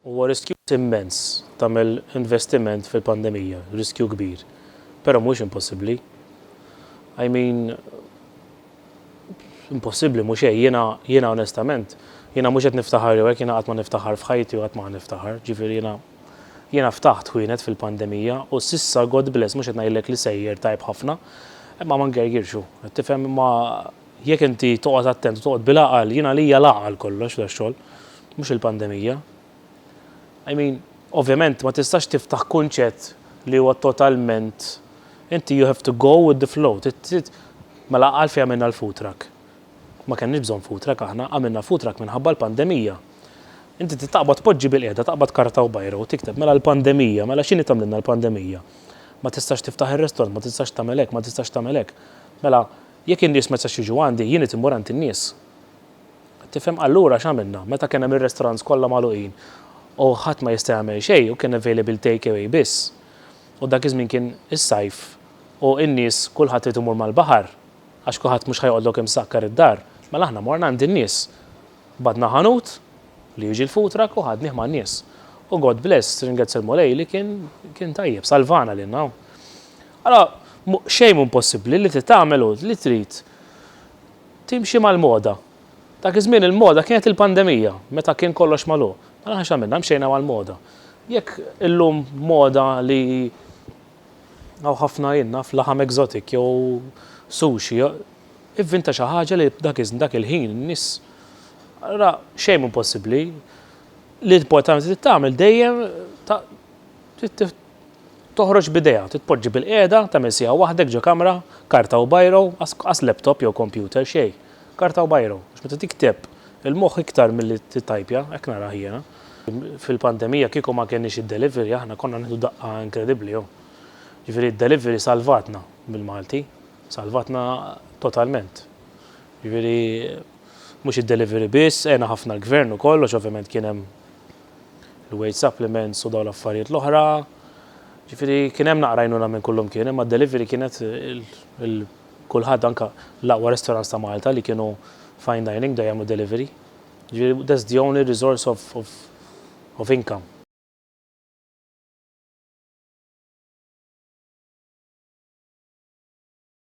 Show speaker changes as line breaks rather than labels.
Huwa riskju immens tagħmel investiment fil-pandemija, riskju kbir, però mhuwiex impossibbli. I mean, impossibbli mhu xejn, jiena jiena onestament, jiena mhux qed niftaħar jew hekk, jiena qatt ma niftaħar f'ħajti u qatt ma ħa niftaħar, ġifieri jiena jiena ftaħt ħwienet fil-pandemija u s'issa God bless mhux qed ngħidlek li sejjer tajjeb ħafna, imma ma ngergirx hu, qed tifhem, imma Jekk inti toqgħod attent u toqgħod bil-għaqal, jien għalija l-għaqal kollox dax-xogħol, mhux il-pandemija. I mean, ovvjament ma tistax tiftaħ kunċett li huwa totalment inti you have to go with the flow. Mela għalfejn għamilna l-food truck? Ma kenniex bżonn food truck aħna, għamilna food truck minħabba l-pandemija. Inti trid taqbad poġġi bil-qiegħda, taqbad karta u bajra u tikteb mela l-pandemija, mela x'inhi tagħmlilna l-pandemija? Ma tistax tiftaħ ir-restaurant, ma tistax tagħmel hekk, ma tistax tagħmel hekk. Mela Jekk in-nies ma jistax jiġu għandi, jien irid immur għand in-nies. Qed tifhem? Allura x'għamilna? Meta kien hemm ir-restaurants kollha magħluqin u ħadd ma jista' jagħmel xejn u kien available take away biss, u dak iż-żmien kien is-sajf u n-nies kulħadd irid imur mal-baħar għax kulħadd mhux ħa joqgħodlok imsakkar id-dar, mela aħna morna għand in-nies. Bagħadna ħanut li jiġi l-food truck u ħadnih man-nies. U God bless, ringrazzja l-Mulej li kien kien tajjeb, salvana lilna. Allura, mhu xejn mhu impossibbli li trid tagħmel hu li trid timxi mal-moda. Dak iż-żmien il-moda kienet il-pandemija, meta kien kollox magħluq. Mela aħna x'għamilna? Mxejna mal-moda. Jekk illum moda li hawn ħafna jien naf laħam exotic jew sushi, ivvinta xi ħaġa li dak iż-żmien dak il-ħin in-nies allura xejn mhu impossibbli. L-importanti trid tagħmel dejjem ta' trid Toħroġ b'idea, titpoġġi bilqiegħda, tagħmel siegħa waħdek ġo kamra, karta u biro, qas laptop jew kompjuter, xejn, karta u biro, għax meta tikteb, il-moħħ iktar milli tittajpja, hekk narah jiena. Fil-pandemija kieku ma kenniex id-delivery aħna konna nieħdu daqqa inkredibbli hawn. Jiġifieri d-delivery salvatna bil-Malti, salvatna totalment. Jiġifieri mhux id-delivery biss, għena ħafna l-Gvern ukoll għax ovvjament kien hemm il-wage supplements u dawn l-affarijiet l-oħra. Ġifieri kien hemm naqra għajnuna minn kullum kien, imma d-delivery kienet kulħadd anke l-aqwa restaurants ta' Malta li kienu fine dining bdew jagħmlu delivery. Ġifieri that's the only resource of of income.